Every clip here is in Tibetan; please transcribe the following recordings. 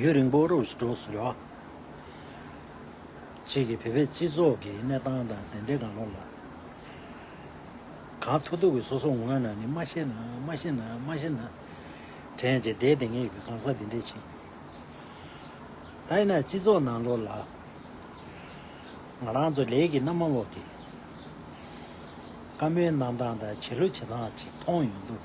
ཡུན་རིང་པོར་འུར་སྒྲོག་བཟོ་བ་བཅས་ཀྱིས་བོད་པའི་སྤྱི་ཚོགས་ཀྱི་གནས་སྟངས་དང་དེ་འབྲེལ་གང་ལོག་ལ་གང་ཐུག་ཐུག་གིས་སོ་སོ་ངོས་ནས་ནི་མ་ཤེས་ན་མ་ཤེས་ན་མ་ཤེས་ན་དྲན་ཅིག་དེའི་དེ་ངེད་ཀྱི་གང་ཟག་འདི་འདྲའི་ཆེད་ཡིན། ད་ཡིན་ན་སྤྱི་ཚོགས་ནང་ལོག་ལ་ང་རང་ཚོ་ལས་ཀྱི་མནའ་མ་འོག་གི་བཀའ་མོལ་གནང་སྟངས་དང་བྱེད་ལུགས་བྱེད་སྟངས་ཅིག་མཐོང་ཡོང་དུས།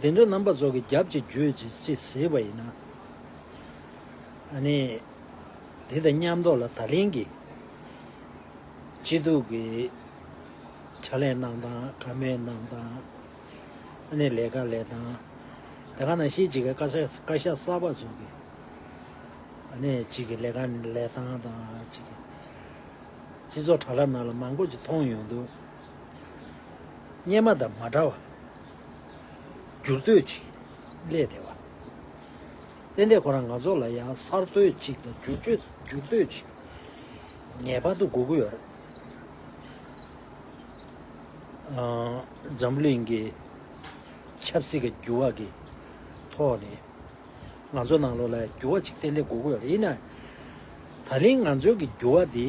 དེ་འདྲ་རྣམ་པ་ཚོགས་ཀྱི་རྒྱབ་ཀྱི་རྗོད་བྱེད་ཅེས་ཟེར་བ་ཡིན། ཨ་ནི། དེ་དང་མཉམ་འདོགས་ལ་ད་ལན་གྱི། སྐྱིད་སྡུག་གི། ཕྱག་ལས་གནང་སྟངས་ག་མེད་གནང་སྟངས། ཨ་ནི་ལས་ཀ་ལས་སྟངས། དེ་ག་ནང་བཞིན་བྱེད་མཁན་བཀའ་ཤག་གསར་པ་ཚོགས་ཀྱི། ཨ་ནི་བྱེད་ཀྱི་ལས་ཀ་ལས་སྟངས་དང་བྱེད་ཀྱི། སྤྱི་ཚོགས་དྲ་ལམ་ནང་ལ་མང་པོ་ཅིག་མཐོང་ཡོང་འདུག། སྙེ་མ་དང་མ་འདྲ་བ། འགྱུར་དུས་ཅིག་སླད་བདེ་བ། གཏན་བདེ་ཁོ་རང་ང་ཚོ་ལ་ཡང་གསར་གཏོད་ཅིག་དང་འགྱུར་བཅོས་འགྱུར་གཏོད་ཅིག་ངེས་པར་དུ་དགོས་ཀྱི་ཡོད། འཛམ་གླིང་གི་ཆབ་སྲིད་ཀྱི་འགྱུར་བ་གྱི་ཐོག་ནས་ང་ཚོ་ནང་ལོགས་ལ་ཡང་འགྱུར་བ་ཅིག་གཏན་བདེ་དགོས་ཀྱི་ཡོད། ཡིན་ནའང། ད་ལན་ང་ཚོའི་གི་འགྱུར་བ་འདི།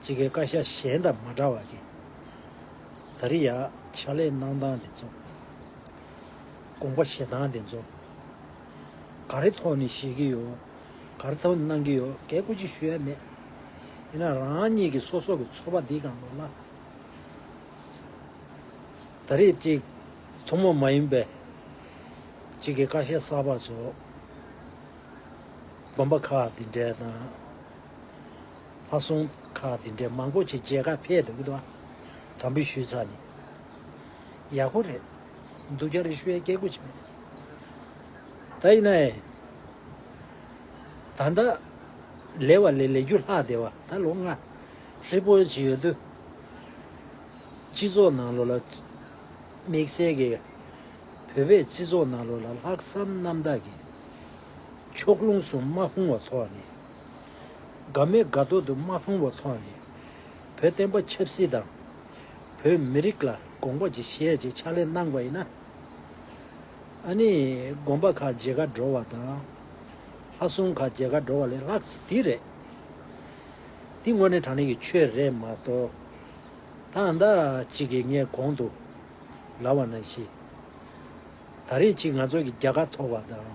དཔྱིད་ཀའི་བཀའ་ཤག་གཞན་དང་མ་འདྲ་བ་གི། ད་རི་ཡ་ཕྱག་ལས་གནང་སྟངས་འདི་ཚོ། དགོངས་པ་བཞེས་སྟངས་འདི་ཚོ། ག་རེ་ཐོག་ནས་བཞེས་ཀྱི་ཡོད། ག་རེ་ཐོག་ནས་གནང་གི་ཡོད་གལ་སྐུལ་ཅིག་ཞུ་ཡ་མེད། ཡིན་ན་རང་ཉིད་ཀྱི་སོ་སོ་གི་ཚོགས་པ་འདིའི་སྒང་ལོགས་ལ། ད་རེས་ཅིག་ཐུན་མོང་མ་ཡིན་པའི། དཔྱིད་ཀའི་བཀའ་ཤག་གསར་པ་ཚོ། དགོངས་པ་ཁག་འདི་འདྲའི་སྟངས། ལྷ་སྲུང་ཁག་དེ་འདྲས་མང་པོ་ཆེ་རྗེས་ཁ་འཕེལ་འདུག་ལ། དམ་འབུལ་ཞུས་ཚར་ནས། ཡག་པོ་རེད་འདུག་རྒྱ་རི་ཤུ་ཡའི་སྐད་སྒུག་བྱེད་མེད། ད་ཡིན་ནའི། ད་ལྟ། ལེ་བ་ལེ་ལེ་རྒྱུ་ལྷག་བདེ་བ་ད་ལོ་སྔ། ཧྲིལ་པོ་བྱེད་ཡོད་དུས། སྤྱི་ཚོགས་ནང་ལོ་ལ། དམིགས་བསལ་གྱི། བོད་པའི་སྤྱི་ཚོགས་ནང་ལོ་ལ་ལྷག་བསམ་རྣམ་དག་གིས། ཕྱོགས་ལྷུང་གསུམ་མ་ཧུང་བ་ཐོག་ནས། དགའ་མོས་དགའ་ཐོག་ཏུ་མ་ཕོངས་བ་ཐོག་ནས་བོད་བསྟན་པ་ཆབ་སྲིད་དང། བོད་མི་རིགས་ལ་དགོངས་པ་ཅིག་བཞེས་ཅེས་ཕྱག་ལས་གནང་བ་ཡིན་ན། ཨ་ནི་དགོངས་པ་ཁ་འབྱེད་མཁའ་འགྲོ་བ་དང། ལྷ་སྲུང་ཁ་འབྱེད་མཁའ་འགྲོ་བ་ལས་ལྷག་འདི་རེད། འདི་དངོས་གནས་དྲང་གནས་ཀྱི་ཆོས་རེད་མ་གཏོགས། ད་ཟླ་གཅིག་གི་ངས་གོང་དུ་ལབ་བ་ན་བཞིན། ད་རེས་ཅིག་ང་ཚོ་གི་རྒྱ་དགའ་ཐོབ་བ་དང།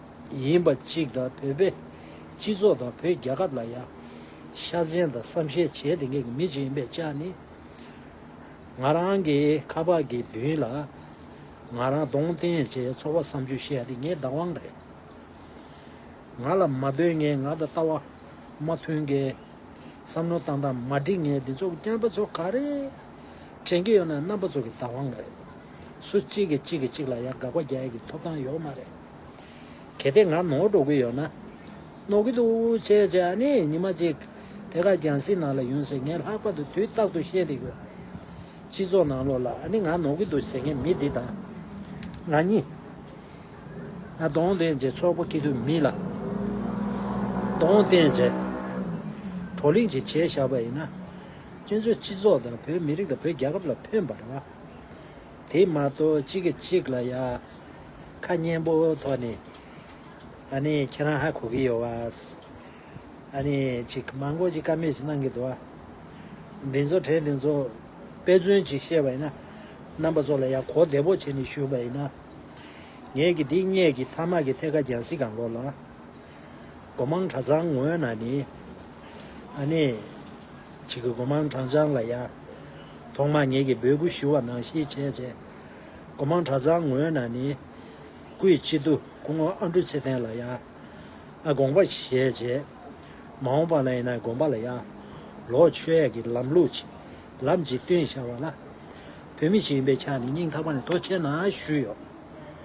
ཡིན་པ་གཅིག་དང་བོད་པའི་སྤྱི་ཚོགས་དང་བོད་རྒྱལ་ཁབ་ལ་ཡང་ཤ་ཆེན་དང་བསམ་ཤེས་བྱེད་དེ་ངེད་ཀྱི་མི་གཅིག་ཡིན་པའི་ཆ་ནི། ང་རང་གི་ཁ་ཕག་གི་མདུན་ལ་ང་རང་གདོང་བསྟན་བྱས་ཚོར་བ་བསམ་ཆུ་བཤད་དེ་ངའི་བདག་དབང་རེད། ང་ལ་མ་འདོད་ངེས་ང་དང་ལྟ་བ་མ་མཐུན་མཁན། བསམ་མནོ་བཏང་སྟངས་མ་འགྲིག་ངེས་འདི་ཚོ་རྐྱང་པ་ཚོ་ག་རེ་དྲན་གྱི་ཡོད་ན་རྣམ་པ་ཚོ་གི་བདག་དབང་རེད། སུ་གཅིག་གིས་གཅིག་གིས་གཅིག་ལ་ཡང་དགག་པ་རྒྱག་ཡས་ཀྱི་ཐོབ་ཐང་ཡོད་མ་རེད། གལ་ཏེ་ང་ནོར་འགྲོ་གི་ཡོད་ན། ནོར་གི་འདུག་བྱས་བྱས་ཨ་ནི་ཉི་མ་གཅིག་དེ་ག་རྒྱང་སྲིད་ནང་ལ་ཡོང་ཟེར་ངས་ལྷག་པར་དུ་དུས་རྟག་ཏུ་བཤད་དེ་ཡོད། སྤྱི་ཚོགས་ནང་ལོགས་ལ་ཨ་ནི་ང་ནོར་གི་འདུག་ཟེར་མཁན་མི་འདི་དང། ང་གཉིས། ང་གདོང་བསྟན་རྗེས་ཚོགས་པ་སྐྱིད་སྡུག་མི་ལ། གདོང་བསྟན་རྗེས། བགྲོ་གླེང་ཅིག་བྱས་བཞག་པ་ཡིན་ན། ཁྱེད་ཚོས་སྤྱི་ཚོགས་དང་བོད་མི་རིགས་དང་བོད་རྒྱལ་ཁབ་ལ་ཕན་པར། དེ་མ་གཏོགས་གཅིག་གིས་གཅིག་ལ་ཡ། ཁ་སྙན་པོ་ཐོག་ནས། ཨ་ནི་ཁྱེད་རང་ཧ་གོ་གི་ཡོད་བཱས། ཨ་ནི་ཅིག་མང་པོ་ཅིག་ཀ་མེད་ཅིག་གནང་གི་འདུག་བཱ། འདི་ཚོ་གྲས་འདི་ཚོ། དཔེ་མཚོན་ཅིག་བཤད་པ་ཡིན་ན། རྣམ་པ་ཚོ་ལ་ཡ་གོ་བདེ་པོ་བྱས་ནས་ཞུས་པ་ཡིན་ན། ངེད་ཀྱི་འདི་སྙད་ཀྱི་ཐ་མག་གི་ཐད་ཀ་རྒྱང་སྲིད་གང་ལོག་ལ། སྒོ་མང་གྲྭ་ཚང་ངོས་ན་ནི། ཨ་ནེ། ཅིག་གི་སྒོ་མང་གྲངས་བྱང་ལ་ཡང། ཐོག་མར་ངེད་ཀྱིས་འབོད་སྐུལ་ཞུ་བ་ནང་བཞིན་བྱས། སྒོ་མང་གྲྭ་ཚང་ངོས་ན་ནི། སྐུའི་སྤྱི་བསྡུ་སྐུ་ངོ་ཨ་འབྲུག་ཚེ་བརྟན་ལ་ཡང། ཨ་དགོངས་པ་བཞེས་བྱས། མ་འོངས་པ་ན་ཡིན་ན་དགོན་པ་ལ་ཡང། ལོག་ཆོས་ཡས་ཀྱི་ལམ་ལུགས་ཆེ། ལམ་གཅིག་བསྟུན་བྱ་བ་ལ། བོད་མི་ཞིག་ཡིན་པའི་ཆ་ནས་སྙིང་ཐག་པ་ནས་དོ་ཁྱེད་ནང་ཞུས་ཡོད།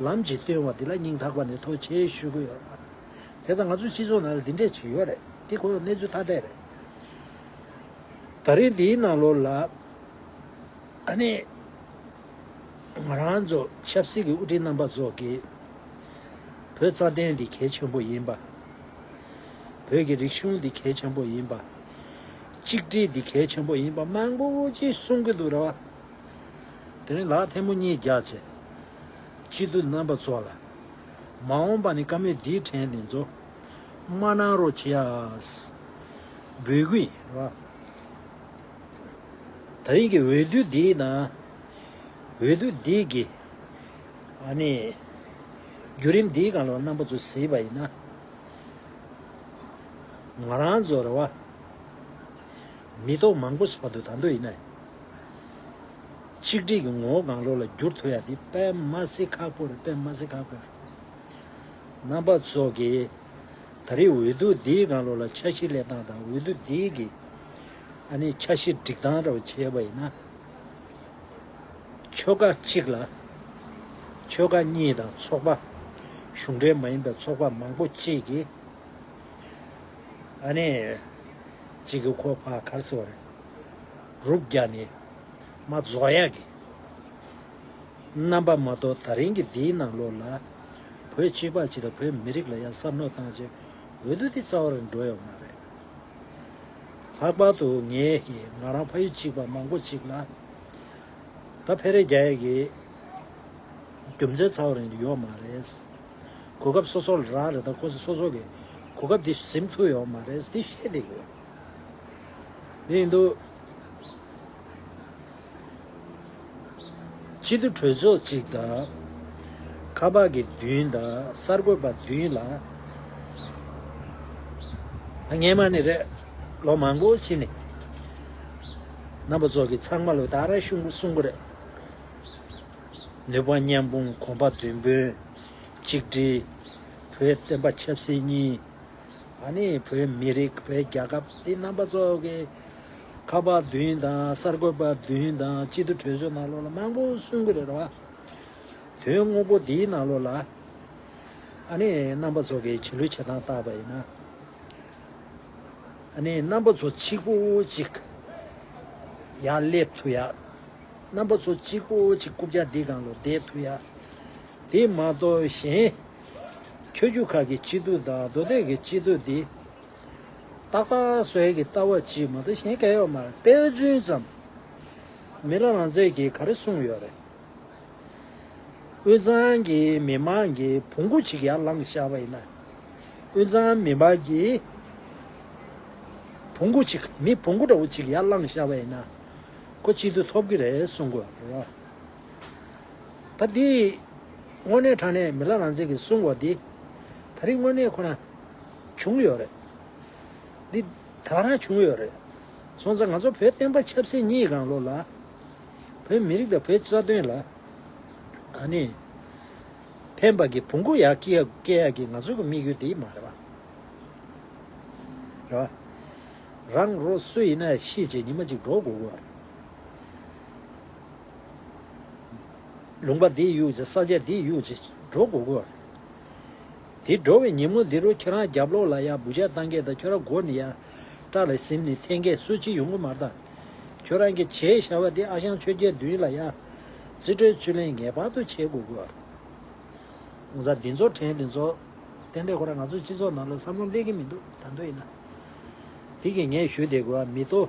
ལམ་གྱིས་སྟོན་བ་འདི་ལ་སྙིང་ཐག་པ་ནས་ཐོག་ཆེ་ཞུ་གི་ཡོད། དེ་ཚ་ང་ཚོའི་སྤྱི་ཚོགས་ནང་ལ་འདི་འདྲས་བྱེད་ཡོད་རེད་འདི་ཁོ་གནས་ཚུལ་ཐ་དད་རེད། ད་རིང་འདིའི་ནང་ལོར་ལ་ཨ་ནི་ང་རང་ཚོ་ཆབ་སྲིད་ཀྱི་དབུ་ཁྲིད་རྣམ་པ་ཚོ་གིས་བོད་རྩ་དོན་འདི་གལ་ཆེན་པོ་ཡིན་པ། བོད་ཀྱི་རིག་གཞུང་འདི་གལ་ཆེན་པོ་ཡིན་པ། གཅིག་སྒྲིལ་འདི་གལ་ཆེན་པོ་ཡིན་པ་མང་པོ་ཅིག་གསུང་གི་འདུག་རེད་བ། དེ་རིང་ལག་ཐལ་མོ་གཉིས་རྒྱག་ཚེ། སྤྱི་འཐུས་རྣམ་པ་ཚོ་ལ། མ་འོངས་པ་ནི་བཀའ་མོལ་འདིའི་དྲན་ནས་མཛོ། མ་གནང་རོགས་བྱེའོ། བུ་གུ། ད་རིང་གི་འོས་བསྡུ་འདིའི་ནང། འོས་བསྡུ་འདི་གི། ཨ་ནི། བརྒྱུད་རིམ་འདིའི་གང་ལོག་རྣམ་པ་ཚོ་གཟིགས་པ་ཡིན་ན། ང་རང་ཚོར་བ། མི་ཐོག་མང་པོ་ཞིག་བར་དུ་ད་འདོད་ཡིན་ན། གཅིག་སྒྲིལ་གྱི་ངོ་བོ་དགང་བློ་ལ་བསྒྱུར་ཐུབ་ཡག་འདི་པད་མ་སི་ཁ་པོ་རེད་པད་མ་སི་ཁ་པོ། རྣམ་པ་ཚོགས་ཀྱིས་ད་རེས་འོས་བསྡུ་འདིའི་དགང་བློ་ལ་འཆར་གཞི་གླེགས་སྟངས་དང་འོས་བསྡུ་འདི་གི་ཨ་ནི་འཆར་གཞི་སྒྲིག་སྟངས་ར་བ་བྱས་པ་ཡིན་ན། ཆོལ་ཁ་གཅིག་ལ་ཆོལ་ཁ་གཉིས་དང་ཚོགས་པ་གཞུང་འབྲེལ་མ་ཡིན་པའི་ཚོགས་པ་མང་པོ་གཅིག་གིས་ཨ་ནི་གཅིག་གི་ཁོ་ཕག་གར་སོང་བ་རེད། རུག་རྒྱ་ནི། མ་རྫོགས་ཡག་གི། རྣམ་པ་མ་དོ་ད་རིང་གི་འདིའི་ནང་ལོགས་ལ། བོད་སྤྱི་པ་སྤྱི་དང་བོད་མི་རིགས་ལ་ཡང་བསམ་བློ་བཏང་རྗེས་འོས་བསྡུ་འདི་རྩ་བ་རིང་འགྲོ་ཡོང་མ་རེད། ལྷག་པར་དུ་ངས་ཀྱི་ང་རང་ཕ་ཡུལ་གཅིག་པ་མང་པོ་གཅིག་ལ། ད་ཕེ་རེ་རྒྱ་ཡག་གི། རྒྱུ་མཚན་རྩ་བ་རིང་དུ་ཡོང་མ་རེད། གོ་སྐབས་སོ་སོ་ལ་རག་རེད་ད་ཁོ་ཚོ་སོ་སོ་གི་གོ་སྐབས་འདི་ཟིན་ཐུབ་ཡོང་མ་རེད་འདི་ཤེས་དེ་ཡོད། དེ་ཡིན་དུས། ཕྱི་དུ་གྲོས་ཚོགས་གཅིག་དང། ཁ་པར་གྱི་བདུན་དང་གསར་འགོད་པ་བདུན་ལ། ངེད་མ་ནི་རེད། ལོ་མང་པོ་ཕྱི་ནས། རྣམ་པ་ཚོགས་ཀྱི་ཚང་མ་ལོ་ད་ར་གསུང་གི་རེད། ནུས་པ་མཉམ་སྤུངས་གོམ་པ་བདུན་བུན་གཅིག་སྒྲིལ། བོད་བསྟན་པ་ཆབ་སྲིད་གཉིས། ད་ནི་བོད་མི་རིགས་བོད་རྒྱལ་ཁབ་འདི་རྣམ་པ་ཚོ་གི་ཁ་པར་བདུན་དང་གསར་འགོད་པ་བདུན་དང་སྤྱི་འཐུས་གྲོས་ཆོད་ནང་ལོགས་ལ་མང་པོ་གསུང་གི་རེད་བ། དོན་དངོས་པོ་འདིའི་ནང་ལོགས་ལ་ཨ་ནི་རྣམ་པ་ཚོ་གི་བྱིས་ལུས་བྱེད་སྟངས་བརྟག་པ་ཡིན་ན་ཨ་ནི་རྣམ་པ་ཚོ་གཅིག་པོ་གཅིག་ཡང་སླེབས་ཐུ་ཡ། རྣམ་པ་ཚོ་གཅིག་པོ་གཅིག་རྐུབ་བཀྱག་འདི་གང་ལོ་བསྡད་ཐུ་ཡ། དེ་མ་གཏོགས་གཞན། ཁྱོད་རྒྱུ་ཁ་གི་སྐྱིད་སྡུག་དང་རྡོ་སྟེགས་ཀྱི་སྐྱིད་སྡུག་འདི། ཏག་ཏག་སོས་ཀྱི་ལྟ་བ་ཅིག་མ་གཏོགས་གཞན་སྐལ་ཡོད་མ་རེད་དཔེ་མཚོན་ཙམ། མི་ལ་རང་བཙན་གྱིས་ག་རེ་གསུངས་ཡོད་རེད། དབུས་གཙང་གི་མི་མང་གིས་བོང་གུ་གཅིག་ཡར་བསླངས་བཞག་པ་ཡིན་ན། དབུས་གཙང་མི་མང་གིས་བོང་གུ་གཅིག་མི་བོང་གུ་འདྲ་བོ་གཅིག་ཡར་བསླངས་བཞག་པ་ཡིན་ན། ཁོ་སྐྱིད་སྡུག་ཐོབ་ཀྱི་རེད་གསུངས་དགོས་རེད། ད་འདི། དངོས་གནས་དྲང་གནས་མི་ལ་རང་བཙན་གྱི་སྲུང་བ་འདི། ད་རིང་དངོས་གནས་ཁོ་ན་བྱུང་ཡོད་རེད། འདི་ད་རང་བྱུང་ཡོད་རེད། སོང་ཙང་ང་ཚོ་བོད་བསྟན་པ་ཆབ་སྲིད་གཉིས་རང་ལོ་ལ། བོད་མི་རིགས་དང་བོད་རྩ་དོན་ལ། ཨ་ནི། ཕན་པ་གི་བུ་འགུ་ཡག་སྐྱེ་ཡག་སྐྱེ་ཡག་གི་ང་ཚོ་གི་དམིགས་ཡུལ་འདི་མ་རེད་པ། རེད་པ། རང་རོ་སུ་ཡིན་ན་ཤི་བྱེད་ཉི་མ་གཅིག་འགྲོ་དགོས་དགོས་པ་རེད། ལུང་པ་འདི་གཡུགས་རྗེས་ས་ཆ་འདི་གཡུགས་རྗེས་འགྲོ་དགོས་དགོས་རེད། དེ་འགྲོ་བའི་ཉིན་མོ་འདི་རུ་ཁྱེད་རང་རྒྱབ་ལོགས་ལ་ཡར་འབུ་ཅག་བཏང་སྐད་དང་ཁྱོད་རང་སྒོ་ནས་ཡར་སྐྲག་ལ་གཟིམ་ནས་འཐེན་སྐད་སུས་ཅི་ཡོང་གི་མ་རྟགས། ཁྱོད་རང་གི་བྱས་བཞག་པ་འདི་ཨ་ཞང་ཆོས་རྒྱལ་བདུན་ལ་ཡར་རྩིས་སྤྲོད་རྩོད་ལེན་ངེས་པར་དུ་བྱེད་དགོས་དགོས་རེད། ཨོ་ཛ་འདི་ཚོ་དྲན་འདི་ཚོ་དེ་འདྲས་ཁོ་ར་ང་ཚོའི་སྤྱི་ཚོགས་ནང་ལ་བསམ་བློ་གླེང་གི་མི་འདུག་ད་འདོད་ཡིན་ན་དེ་གི་ངས་ཞུ་བདེ་དགོས་བ་མི་ཏོ།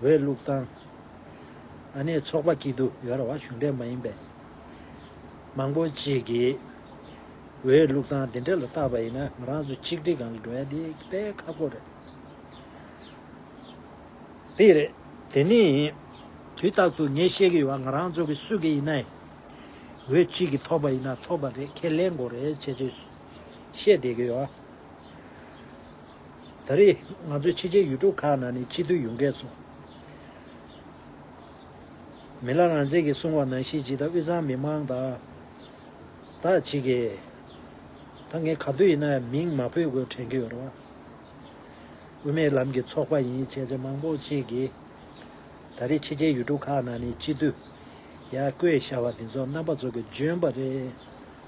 འོས་བླུགས་སྟངས། ཨ་ནེ་ཚོགས་པ་སྐྱིད་སྡུག་ཡོད་ར་བ་གཞུང་འབྲེལ་མ་ཡིན་པའི་མང་པོ་ཅིག་གིས་འོས་བླུགས་སྟངས་དེ་འདྲ་ལ་བརྟགས་པ་ཡིན་ན་ང་རང་ཚོ་གཅིག་སྒྲིལ་གང་ལ་འགྲོ་ཡ་འདི་དཔེ་ཁ་པོ་རེད། དཔེ་རེད། དེ་ནི་དུས་རྟགས་སུ་ངས་བཤད་གི་ཡོད་བ་ང་རང་ཚོ་གི་སུ་གི་ཡིན་ན་ཡིན་འོས་གཅིག་གིས་ཐོབ་པ་ཡིན་ན་ཐོབ་པ་རེད་ཁས་ལེན་དགོས་རེད་བྱས་བྱས་བཤད་བསྡད་གི་ཡོད། ད་རེས་ང་ཚོས་ཕྱི་རྒྱལ་ཡུལ་གྲུ་ཁག་ནང་ནས་སྤྱི་འཐུས་ཡོང་མཁན་ཚོ། མི་ལ་རང་བཙན་གྱི་སྲུང་བ་ནང་ཤེས་ཅིག་དང་དབུས་གཙང་མི་མང་དང། དག་ཅིག་གིས། ད་ངས་ག་དུས་ཡིན་ན་མིང་མ་འཕོད་དགོས་དྲན་གྱི་ཡོད་རེད། དབུ་མའི་ལམ་གྱི་ཚོགས་པ་ཡིན་བྱས་ཚེ་མང་པོ་ཅིག་གིས། ད་རེས་ཕྱི་རྒྱལ་ཡུལ་གྲུ་ཁག་ནང་ནས་སྤྱི་འཐུས། ཡ་བསྐོས་བྱ་བ་འདི་ཚོ་རྣམ་པ་ཚོ་གི་འཇོན་པ་རེད།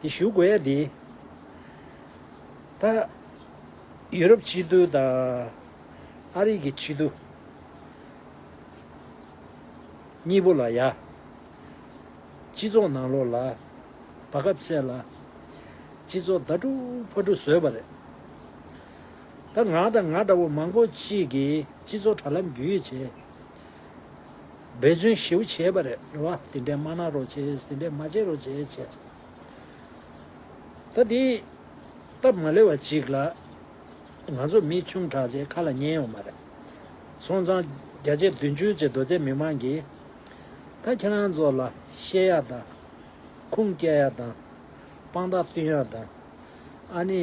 དེ་ཞུ་དགོས་ཡ་དེ། ད། ཡུ་རོབ་སྤྱི་བསྡུ་དང། ཨ་རིག་གི་སྤྱི་བསྡུ། གཉིས་པོ་ལ་ཡ། སྤྱི་ཚོགས་ནང་ལོགས་ལ། བར་སྐབས་བསལ་ལ། སྤྱི་ཚོགས་ཟླ་དྲུག་ཕར་དྲུག་བཟོས་པ་རེད། ད་ང་དང་ང་འདྲ་བོ་མང་པོ་གཅིག་གིས་སྤྱི་ཚོགས་དྲ་ལམ་བརྒྱུད་བྱས། འབད་བརྩོན་ཞེ་བོ་བྱས་པ་རེད་རེད་བ། དེ་འདྲས་མ་གནང་རོགས་བྱས། དེ་འདྲས་མ་བྱས་རོགས་བྱས་བྱས་བྱས། ད་དེ། སྟབས་མ་ལེགས་བ་ཅིག་ལ། ང་ཚོ་མི་ཆུང་དྲག་ཆས་ཁ་ལ་ཉན་ཡོང་མ་རེད། སོང་ཙང། བརྒྱ་ཆའི་བདུན་ཅུ་ཅེ་རྡོ་རྗེ་མི་མང་གིས། ད་ཁྱེད་རང་ཚོ་ལ། བཤད་ཡག་དང། ཁུངས་སྐྱེལ་ཡག་དང། དཔང་རྟགས་བསྟུན་ཡག་དང། ཨ་ནི།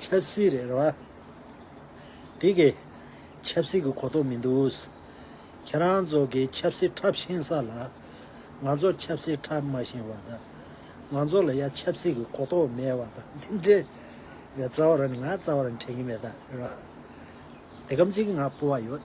ཆབ་སྲིད་རེད་རེད་བ། དེ་གས་ཆབ་སྲིད་ཀྱི་གོ་རྟོགས་མི་འདུག། ཁྱེད་རང་ཚོ་གས་ཆབ་སྲིད་འཁྲབ་ཤེས་ས་ལ། ང་ཚོ་ཆབ་སྲིད་འཁྲབ་མ་ཤེས་བ་དང། ང་ཚོ་ལ་ཡ་ཆབ་སྲིད་ཀྱི་གོ་རྟོགས་མེད་བ་དང་དེ་འདྲའི་རྩ་བ་ར་ནི་ང་རྩ་བ་ར་ནི་དྲན་གྱི་མེད་ད་རེད་བ། དེ་གམ་ཚིག་ང་སྤོ་བ་ཡོད།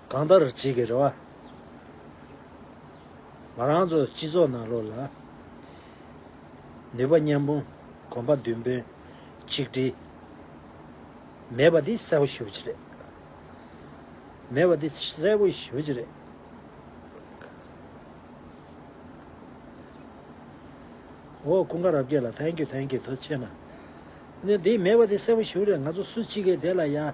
གང་ལྟར་བྱེད་ཀྱི་རེད་བ། ང་རང་ཚོ་སྤྱི་ཚོགས་ནང་ལོགས་ལ། ནུས་པ་མཉམ་སྤུངས་གོམ་པ་མདུན་སྤོས་ཆིག་སྒྲིལ། མེད་པ་འདི་གསལ་བོ་ཞུ་བྱེད་རེད། མེད་པ་འདི་གསལ་བོ་ཞུ་བྱེད་རེད། འོ་ཀུན་དགའ་རབ་རྒྱས་ལ Thank you Thank you དོ་ཆེ་ན། འདི་མེད་པ་འདི་གསལ་བོ་ཞུ་རེད་ང་ཚོ་སུ་གཅིག་གི་དེ་ལ་ཡ།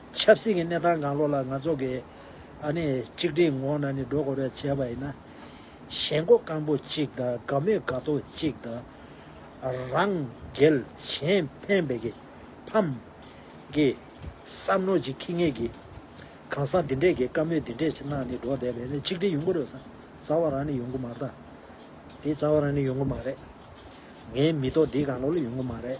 ཆབ་སྲིད་ཀྱི་གནས་སྟངས་གང་ལོག་ལ་ང་ཚོ་གིས་གཅིག་སྒྲིལ་ངང་ནས་འགྲོ་དགོས་རེད་བྱས་པ་ཡིན་ན། ཞེན་ཁོག་སྐམ་པོ་གཅིག་དང་དགའ་མོས་དགའ་ཐོག་གཅིག་དང། རང་རྒྱལ་གཞན་ཕན་བེད་ཀྱི་ཕམ། གི་བསམ་མནོ་གཅིག་ཁེངས་ངེས་ཀྱི། གང་ཟག་འདི་འདྲས་ཀྱིས་དཀའ་མོས་འདི་འདྲས་གནང་ནས་འགྲོ་བསྡད་པས་ནི་གཅིག་སྒྲིལ་ཡོང་གི་རེད་བསམ། རྩ་བ་རང་ནས་ཡོང་གི་མ་རེད། དེ་རྩ་བ་རང་ནས་ཡོང་གི་མ་རེད། ངའི་མི་ཐོག་འདི་གང་ལོག་ལ་ཡོང་གི་མ་རེད།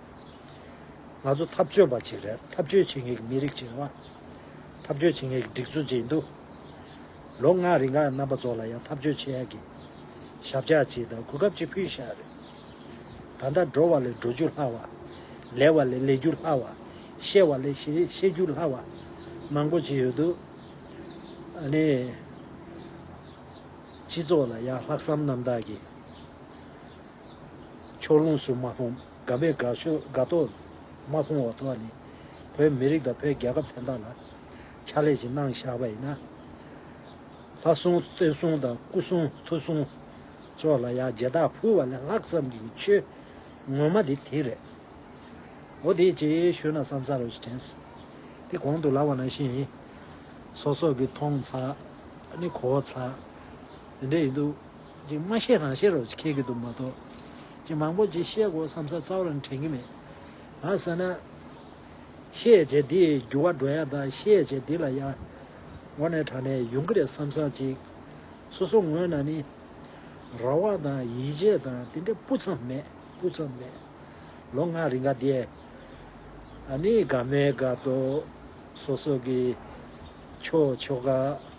ང་ཚོ་འཐབ་རྩོད་པ་ཅིག་རེད་འཐབ་རྩོད་བྱེད་མཁན་གྱི་མི་རིགས་ཅིག་རེད། འཐབ་རྩོད་བྱེད་མཁན་གྱི་སྒྲིག་འཛུགས་ཅིག་འདུག་ལོ་ལྔ་རིང་ཁག་རྣམ་པ་ཚོ་ལ་ཡང་འཐབ་རྩོད་བྱེད་ཡག་གི་ཞབས་ཕྱག་ཅིག་དང་གོ་སྐབས་ཅིག་ཕུལ་བཞག་རེད། ད་ལྟ་འགྲོ་བ་ལས་འགྲོ་རྒྱུ་སླ་བ། ལས་བ་ལས་ལས་རྒྱུ་སླ་བ། ཤེས་བ་ལས་ཤེས་རྒྱུ་སླ་བ། མང་པོ་ཅིག་ཡོད་འདུག་ཨ་ནི། སྤྱི་ཚོགས་ལ་ཡང་ལྷག་བསམ་རྣམ་དག་གིས། ཕྱོགས་ལྷུང་སུ་མ་ཕོངས་དགའ་བས་དགའ་ཤོས་དགའ་ཏོག་མ་ཕོངས་བ་ཐོ་བ་ནི། བོད་མི་རིགས་དང་བོད་རྒྱལ་ཁབ་དན་ད་ལ། ཕྱག་ལས་ཅིག་གནང་བཞག་པ་ཡིན་ན། ལྷ་སྲུང་རྟེན་སྲུང་དང་སྐུ་སྲུང་ཐུགས་སྲུང། ཕྱོགས་ལ་ཡང་རྗེ་དྭགས་ཕུལ་བ་ལས་ལྷག་བསམ་གྱི་ཆོས། ངོ་མ་དེ་དེ་རེད། འོ་དེའི་རྗེས་ཤུལ་ན་བསམ་ཚར་བ་ཞིག་དྲན་སོང། དེ་གོང་དུ་ལབ་བ་ནང་བཞིན་ཡིན། སོ་སོ་གི་མཐོང་ཚགས་ནི་གོ་ཚགས་དེ་འདྲས་ཡིན་འདུག། ཅིག་མ་ཤེས་རང་ཤེས་རོགས་ཁྱེར་གྱི་འདུག་མ་གཏོགས་ཅིག་མང་པོ་ཅིག་བཤད་དགོས་བསམ་ས་རྩ་བར་དྲན་གྱི་མེད། ང་ཟེར་ན། བཤད་བྱེད་འདི་ཡི་འགྱུར་བ་འགྲོ་ཡ་དང་བཤད་བྱེད་འདི་ལ་ཡར་ངོ་ནས་དྲངས་ནས་ཡོང་གི་རེད་བསམ་ས་ཅིག་སོ་སོ་ངོས་ན་ནི། ར་བ་དང་ཡིད་ཆེས་དང་དེ་འདྲ་སྤུ་ཙམ་མེད་སྤུ་ཙམ་མེད། ལོ་ལྔ་རི་འགའ་བསྡད། ནི་དགའ་མོའི་དགའ་སྟོབས། སོ་སོ་གི་ཆོས་ཆོ་ག།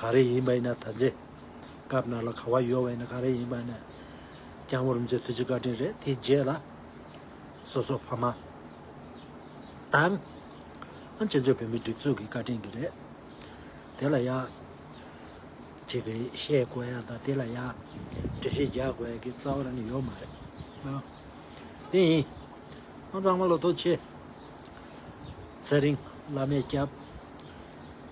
ག་རེ་ཡིན་པ་ཡིན་ན་ད་ཚེ་སྐབས་ནང་ལ་ག་བ་ཡོད་བ་ཡིན་ན་ག་རེ་ཡིན་པ་ཡིན་ན་རྐྱང་བོར་མི་ཚེ་དུས་ཚིགས་བཀའ་དྲིན་རེད་དེའི་རྗེས་ལ་སོ་སོ་ཕ་མ་དང་ཨམ་ཆེན་ཚོས་བོད་མི་སྒྲིག་འཛུགས་ཀྱི་བཀའ་དྲིན་གྱི་རེད་དེ་ལ་ཡག་ཅིག་གི་བཤད་དགོས་ཡག་དང་དེ་ལ་ཡག་འབྲི་བཤད་རྒྱག་དགོས་ཡག་གི་རྩ་བ་རང་ནས་ཡོད་མ་རེད་ཨང་དེ་ཡིན་ཨང་གཙང་མ་ལོ་ཐོ་ཆེ་ཚེ་རིང་བླ་མའི་སྐྱབས།